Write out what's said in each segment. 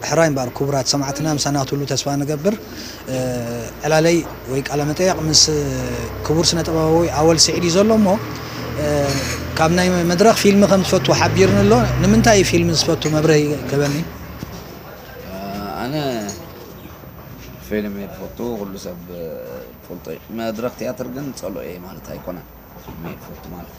ሕራይ እምበኣር ኩቡራት ሰማዕትና ምሳና ክትህሉ ተስፋ ንገብር። ዕላለይ ወይ ቃለ መጠየቅ ምስ ክቡር ስነ ጥበባዊ ኣወል ስዒድ እዩ ዘሎ እሞ ካብ ናይ መድረኽ ፊልሚ ከም ዝፈቱ ሓቢርኒ ኣሎ ንምንታይ እዩ ፊልሚ ዝፈቱ መብርሂ ክህበኒ ኣነ ፊልም እየ ዝፈቱ ኩሉ ሰብ ፈልጦ እዩ መድረኽ ትያትር ግን ጸልኦ እየ ማለት ኣይኮነን ፊልም እየ ዝፈቱ ማለት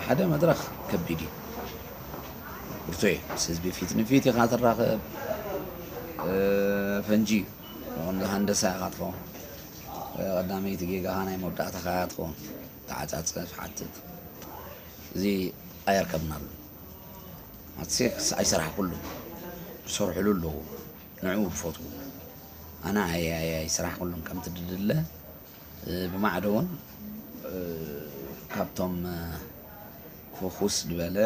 ሓደ መድረኽ ከቢድ እዩ ብርቱዔ ምስ ህዝቢ ፊት ንፊት ኢኻ ትራኸብ ፈንጂ ንቑንዶ ሃንደሳ ኢኻ ትኸውን ቀዳመይቲ ጌጋኻ ናይ መወዳእታኻ እያ ትኸውን ተዓጻጸፍ ሓትት እዚ ኣየርከብናሉ ኣትሴክስ ኣይሰራሕኩሉ ዝሰርሕሉ ኣለዎ ንዕኡ ዝፈትዉ ኣነ ኣያያይ ስራሕ ኩሉም ከምቲ ድድለ ብማዕዶ ውን ካብቶም ፍኹስ ድበለ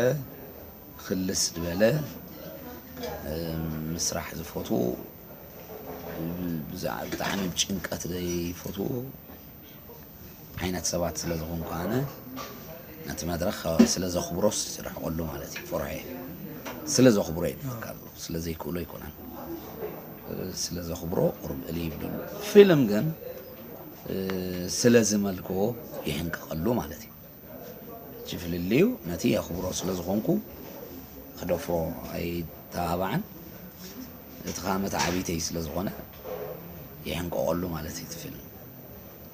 ኽልስ ድበለ ምስራሕ ዝፈትዉ ብዛዕባ ብጣዕሚ ጭንቀት ዘይፈትዉ ዓይነት ሰባት ስለ ዝኾንኩ ኣነ ነቲ መድረኽ ስለ ዘኽብሮስ ይርሕቐሉ ማለት እዩ። ፍርዖ ስለ ዘኽብሮ እዩ ዝብለካ ዘሎ ስለ ዘይክእሎ ኣይኮነን። ስለ ዘኽብሮ ቁሩብ ዕልይ ይብለሉ። ፊልም ግን ስለ ዝመልክዎ ይሕንቅቐሉ ማለት እዩ። እቲ ፍልልዩ ነቲ የኽብሮ ስለ ዝኾንኩ ክደፍሮ ኣይተባባዕን። እቲ ከኣ መተዓብይተይ ስለ ዝኾነ ይሕንቅቐሉ ማለት እዩ እቲ ፊልም።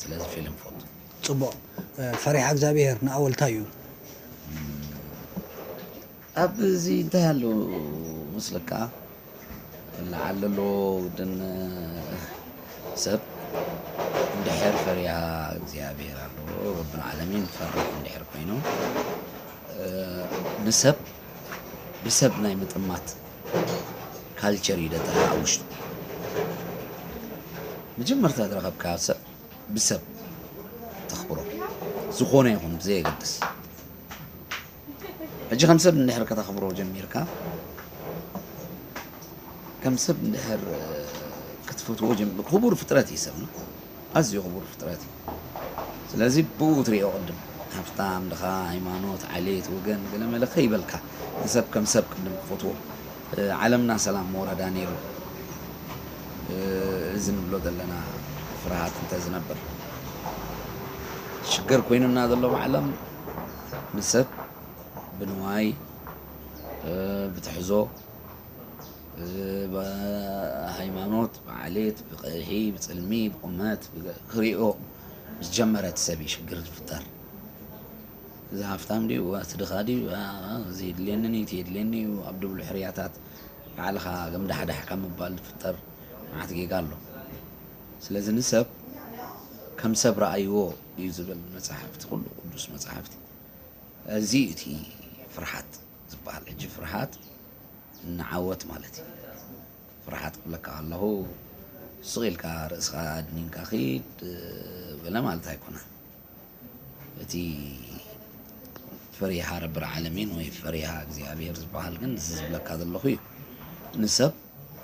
ስለዚ ፊልም እፈቱ። ጽቡቕ ፈሪሓ እግዚኣብሄር ንኣወልታይ'ዩ። ኣብ እዚ እንታይ ኣሎ መስለካ ለዓል ለሎ ውድን ሰብ እንድሕር ፈሪሃ እግዚኣብሔር ኣሎ ረብ ልዓለሚን ፈራሕ እንድሕር ኮይኑ ንሰብ ብሰብ ናይ ምጥማት ካልቸር እዩ ደጠ ኣብ ውሽጡ መጀመርታ ዝረኸብካ ሰብ ብሰብ ተኽብሮ ዝኾነ ይኹን ብዘየገድስ ሕጂ ከም ሰብ እንድሕር ከተኽብሮ ጀሚርካ ከም ሰብ እንድሕር ክትፈትዎ ጀሚር ክቡር ፍጥረት እዩ ሰብና ኣዝዩ ክቡር ፍጥረት እዩ ስለዚ ብኡ ትሪኦ ቅድም ሃብታም ድኻ ሃይማኖት ዓሌት ወገን ገለ መለ ከይበልካ ንሰብ ከም ሰብ ቅድም ክፈትዎ ዓለምና ሰላም መወረዳ ነይሩ እዚ ንብሎ ዘለና ፍርሃት እንተዝነብር ሽግር ኮይኑና ዘሎ ብዓለም ንሰብ ብንዋይ ብትሕዞ ብሃይማኖት ብዓሌት ብቐይሒ ብፅልሚ ብቑመት ክሪኦ ምስ ጀመረ እቲ ሰብ እዩ ሽግር ዝፍጠር። እዚ ሃፍታም ድዩ እቲ ድኻ ድዩ እዚ የድልየኒ እዩ እቲ የድልየኒ እዩ ኣብ ድብሉ ሕርያታት ባዕልኻ ገምዳሕዳሕ ካብ ምባል ዝፍጠር መዓት ጌጋ ኣሎ። ስለዚ ንሰብ ከም ሰብ ረኣይዎ። እዩ ዝብል መጻሕፍቲ ኩሉ ቅዱስ መጻሕፍቲ እዚ እዩ እቲ ፍርሓት ዝበሃል ሕጂ ፍርሓት ንዓወት ማለት እዩ ፍርሓት ክብለካ ከለኹ ስቕ ኢልካ ርእስኻ ኣድኒንካ ኺድ በለ ማለት ኣይኮነን እቲ ፈሪሃ ረቢ ዓለሚን ወይ ፈሪሃ እግዚኣብሔር ዝበሃል ግን እዚ ዝብለካ ዘለኹ እዩ ንሰብ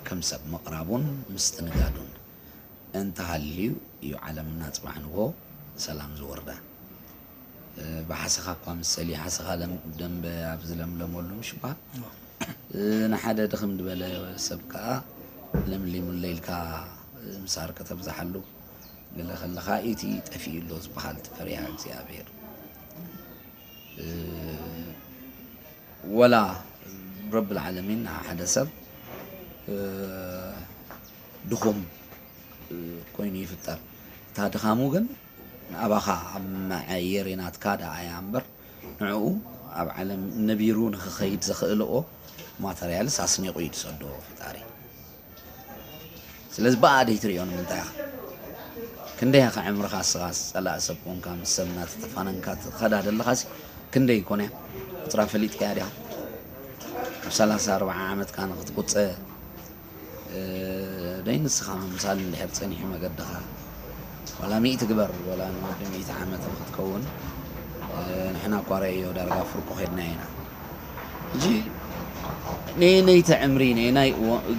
ከም ሰብ ምቕራቡን ምስትንጋዱን እንተሃልዩ እዩ ዓለምና ጽባሕ ንግሆ ሰላም ዝወርዳ። ብሓሰኻ እኳ ምሰሊ ሓሰኻ ደምበ ኣብ ዝለምለመሉ ምሽ በሃል ንሓደ ድኽም ድበለ ሰብ ከዓ ለምሊሙለይ ኢልካ ምሳር ከተብዝሓሉ ገለ ከለኻ ኢቲ ጠፊኡ ኣሎ ዝበሃል እቲ ፈሪሃ እግዚኣብሔር ወላ ረብል ዓለሚን ንሓደ ሰብ ድኹም ኮይኑ ይፍጠር እታ ድኻሙ ግን ኣባኻ ኣብ መዐየሪ ናትካ ደኣ እያ እምበር ንዕኡ ኣብ ዓለም ነቢሩ ንክኸይድ ዘኽእልኦ ማተርያልስ ኣስኒቑ እዩ ዝሰዶ ፈጣሪ ስለዚ ብኣ ደይትሪኦ ንምንታይ ኢኻ ክንደይ ኢኻ ዕምርኻ ስኻስ ጸላእ ሰብ ኮንካ ምስ ሰብ እናተተፋነንካ ትኸዳ ዘለኻሲ ክንደይ ኮነ እያ ቁጽራ ፈሊጥካያ ዲኻ ኣብ ሰላሳ ኣርብዓ ዓመትካ ንክትቁጸ ደይ ንስኻ ምምሳል እንድሕር ጸኒሑ መገድኻ ዋላ ሚእቲ ግበር ዋላ ንወዲ ሚእቲ ዓመት ንክትከውን ንሕና እኳ ረእዮ ዳርጋ ፍርቁ ኬድና ኢና ሕጂ ነየነይቲ ዕምሪ ነየናይ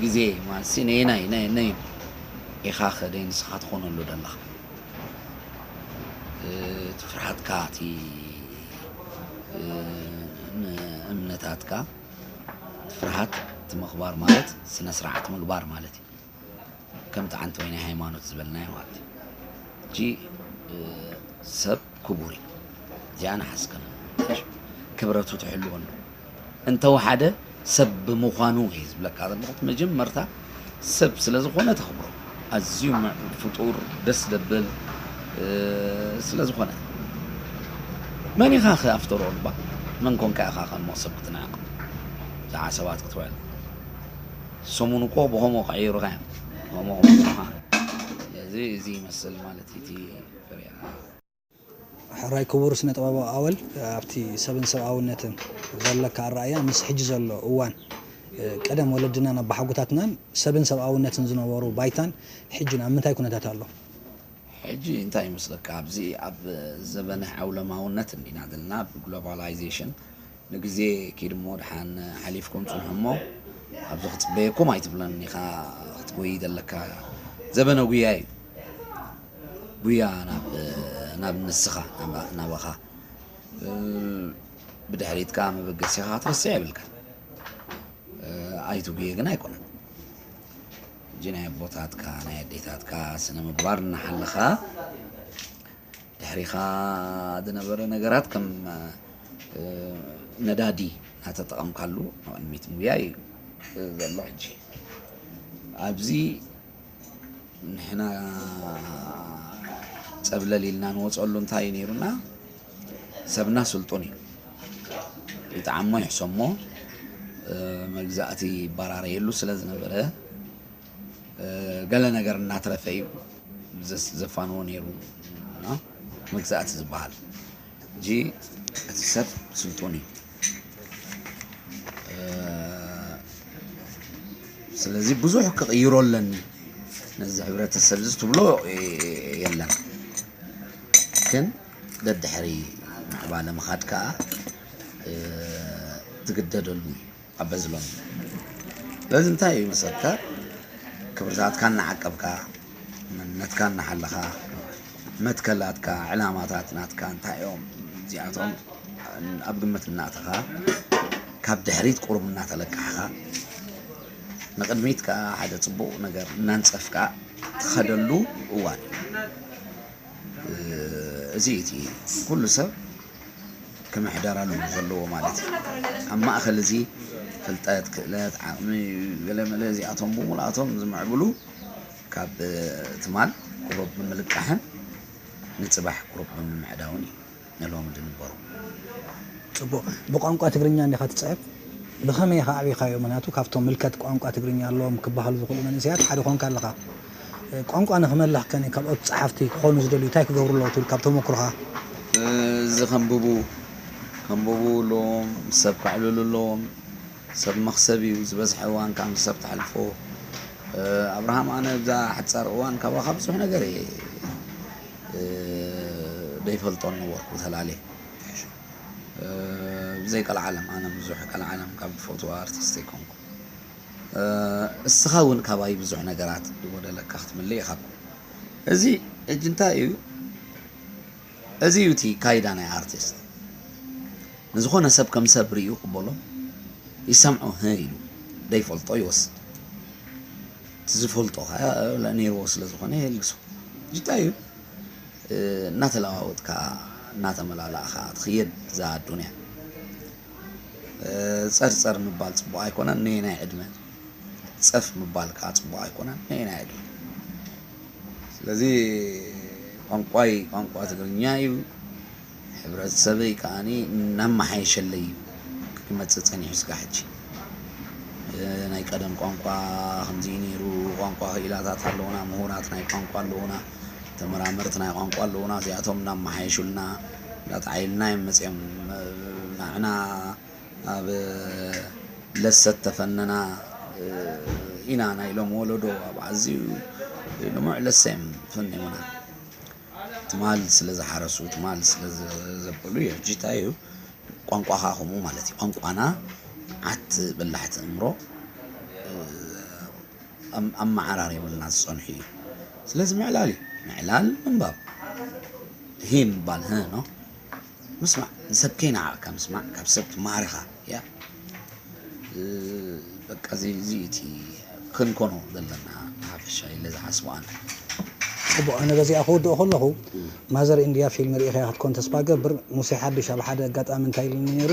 ግዜ ማለት ነየናይ ነየነይ ኢኻ ከደይ ንስኻ ትኾነሉ ዘለኻ እቲ ፍርሃትካ እቲ እምነታትካ ፍርሃት እቲ ምኽባር ማለት ስነ ስርዓት ምግባር ማለት እዩ ከምቲ ሓንቲ ወይናይ ሃይማኖት ዝበልናዮ ማለት እዩ እጂ ሰብ ክቡር እዩ እዚኣ ንሓስከነ ክብረቱ ትሕልወሉ እንተወሓደ ሰብ ብምዃኑ እዩ ዝብለካ ዘለኹ መጀመርታ ሰብ ስለ ዝኮነ ተክብሮ ኣዝዩ ምዕቡል ፍጡር ደስ ደብል ስለ ዝኮነ መን ኢካ ከ ኣፍተሮ እባ መን ኮንካ ኢካ ከሞ ሰብ ክትንዕቅ ብዛዕባ ሰባት ክትውዕል ሰሙን እኮ ብከምኡ ክዕይሩካ እዮም ከምኡ ክብሉካ ስለዚ እዚ ይመስል ማለት እዩ እቲ ፍርያት። ሕራይ ክቡር ስነ-ጥበባዊ ኣወል ኣብቲ ሰብን ሰብኣውነትን ዘለካ ኣረኣእያ ምስ ሕጂ ዘሎ እዋን ቀደም ወለድናን ኣባሓጎታትናን ሰብን ሰብኣውነትን ዝነበሩ ባይታን ሕጂን ኣብ ምንታይ ኩነታት ኣሎ? ሕጂ እንታይ ይመስለካ ኣብዚ ኣብ ዘበነ ዓውለማውነት እንዲና ዘለና ብ Globalization ንግዜ ኪድ እሞ ድሓን ሓሊፍኩም ጽንሑ እሞ ኣብዚ ክጽበየኩም ኣይትብሎን ኢኻ ክትጎይይ ዘለካ ዘበነ ጉያ እዩ። ጉያ ናብ ንስኻ ናባኻ ብድሕሪትካ መበገሲኻ ክትርስዕ የብልካን ኣይትጉየ ግን ኣይኮነን እጂ ናይ ኣቦታትካ ናይ ኣዴታትካ ስነ ምግባር እናሓለኻ ድሕሪኻ ዝነበረ ነገራት ከም ነዳዲ እናተጠቐምካሉ ንቕድሚት ምጉያይ እዩ ዘሎ ሕጂ ኣብዚ ንሕና ፀብለል ኢልና ንወፀሉ እንታይ እዩ ነይሩና ሰብና ስልጡን እዩ ይጠዓሞ ይሕሰሞ መግዛእቲ ይበራረየሉ ስለ ዝነበረ ገለ ነገር እናትረፈ እዩ ዘፋንዎ ነይሩ መግዛእቲ ዝበሃል ሕጂ እቲ ሰብ ስልጡን እዩ ስለዚ ብዙሕ ክቕይሮ ኣለኒ ነዚ ሕብረተሰብ እዚ ትብሎ የለን ግን ደድሕሪ ምዕባለ ምኻድ ከዓ ትግደደሉ እዩ ኣበዝሎም ስለዚ እንታይ እዩ መሰልካ ክብርታትካ እናዓቀብካ መንነትካ እናሓለኻ መትከላትካ ዕላማታት ናትካ እንታይ እዮም እዚኣቶም ኣብ ግምት እናእተኻ ካብ ድሕሪት ቁሩብ እናተለቃሕኻ ንቅድሚት ከዓ ሓደ ፅቡቅ ነገር እናንፀፍካ ትኸደሉ እዋን እዚ እዩ እቲ ኩሉ ሰብ ክምሕደረሉ ዘለዎ ማለት እዩ። ኣብ ማእኸል እዚ ፍልጠት፣ ክእለት፣ ዓቕሚ ገለመለ እዚኣቶም ብምሉኣቶም ዝምዕብሉ ካብ ትማል ቁሩብ ብምልቃሕን ንፅባሕ ቁሩብ ብምምዕዳውን እዩ። ነሎሚ ድንበሩ ጽቡቅ ብቋንቋ ትግርኛ እንዲኻ ትጽሕፍ ብኸመይ ኢኻ ኣዕቢኻዮ ምኽንያቱ ካብቶም ምልከት ቋንቋ ትግርኛ ኣለዎም ክበሃሉ ዝኽእሉ መንእሰያት ሓደ ኮንካ ኣለኻ ቋንቋ ንኽመልኽ ከ ካልኦት ጸሓፍቲ ክኾኑ ዝደልዩ እንታይ ክገብሩ ኣለዎ ትብል ካብ ተሞክሮኻ እዚ ከንብቡ ከንብቡ ኣለዎም ሰብ ከዕልሉ ኣለዎም። ሰብ መኽሰብ እዩ ዝበዝሐ እዋን ካም ዝሰብ ተሕልፎ ኣብርሃም ኣነ እብዛ ሓጻር እዋን ካባኻ ብዙሕ ነገር እየ ደይፈልጦ ነበርኩ ተላሌ ብዘይ ቀልዓለም ኣነ ብዙሕ ቀልዓለም ካብ ዝፈትዋ ኣርቲስት ኣይኮንኩ እስኻ እውን ካባይ ብዙሕ ነገራት ዝጎደለካ ክትምልእ ኢኻ እዚ እጅ እንታይ እዩ እዚ እዩ እቲ ካይዳ ናይ ኣርቲስት ንዝኾነ ሰብ ከም ሰብ ሪኡ ይቅበሎ ይሰምዖ ህህ ኢሉ ዘይፈልጦ ይወስድ እቲ ዝፈልጦ ከኣ ነይርዎ ስለ ዝኾነ የልግሶ እዚ እንታይ እዩ እናተለዋወጥካ እናተመላላእኻ ትኽየድ እዛ ኣዱንያ ጸርጸር ምባል ጽቡቅ ኣይኮነን ነየናይ ዕድመ ጸፍ ምባል ከኣ ጽቡቅ ኣይኮነን ነየናይ ዕድመ ስለዚ ቋንቋይ ቋንቋ ትግርኛ እዩ፣ ሕብረተሰበይ ከኣ እናመሓየሸለይ እዩ ክመፅእ ፀኒሑ ስጋዕ ሕጂ ናይ ቀደም ቋንቋ ከምዚ እዩ ነይሩ፣ ቋንቋ ክኢላታት ኣለዉና፣ ምሁራት ናይ ቋንቋ ኣለዉና፣ ተመራመርቲ ናይ ቋንቋ ኣለዉና፣ እዚኣቶም እናመሓየሹልና እናተዓይሉና እዮም መፂኦም ንዓና ኣብ ለሰተ ፈነና ኢና ናይ ሎም ወለዶ ኣብ ኣዝዩ ልሙዕ ለሰ እዮም ፈኒሙና ትማል ስለ ዝሓረሱ ትማል ስለ ዘበሉ እዩ ሕጂ እንታይ እዩ ቋንቋኻ ከምኡ ማለት እዩ ቋንቋና ዓት በላሕቲ እምሮ ኣመዓራሪቡልና ዝጸንሑ እዩ ስለዚ ምዕላል እዩ ምዕላል ምንባብ ሂ ምባል ህ ነው ምስማዕ ንሰብ ከይነዓቅካ ምስማዕ ካብ ሰብ ትማሃርኻ እያ በቃ እዚ እዚ እዩ እቲ ክንኮኖ ዘለና ብሓፈሻ ኢለ ዝሓስቦ ኣነ ጽቡቅ ኣነ በዚኣ ክውድኦ ከለኹ ማዘር ኢንድያ ፊልም ርኢኻያ ክትኮን ተስፋ እገብር ሙሴ ሓዱሽ ኣብ ሓደ ኣጋጣሚ እንታይ ኢሉኒ ነይሩ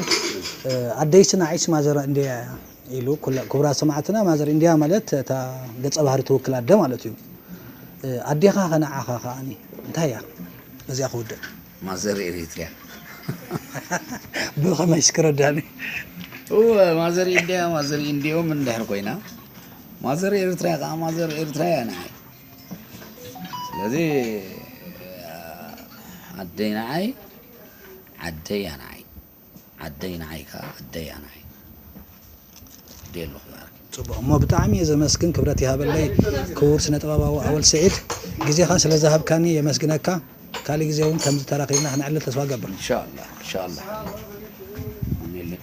ኣደይ ስናዒስ ማዘር ኢንድያ እያ ኢሉ ክቡራት ሰማዕትና ማዘር ኢንድያ ማለት እታ ገጸ ባህሪ ትውክል ኣደ ማለት እዩ ኣዴኻ ከነዓኻ ከዓኒ እንታይ እያ በዚኣ ክውድእ ማዘር ኤሪትሪያ ብኸመይስ ክረዳኒ እወ ማዘር ኢንድያ ማዘር ኢንድዮም እንድሕር ኮይና ማዘር ኤርትራ ከዓ ማዘር ኤርትራ እያ ንዓይ ስለዚ ኣደይ ንዓይ ዓደይ እያ ንዓይ ዓደይ ንዓይ ከኣ ኣደያ ንዓይ እብዲ ኣለኹ ይባርኪ። ጽቡቅ እሞ ብጣዕሚ እየ ዘመስግን ክብረት ይሃበለይ ክቡር ስነ ጥበባዊ ኣወል ስዒድ ግዜካ ስለ ዝሃብካኒ የመስግነካ ካሊእ ግዜ ውን ከምዚ ተራኪብና ክነዕልል ተስፋ እገብር። ኢንሻላህ ኢንሻላህ ኣሜሌን።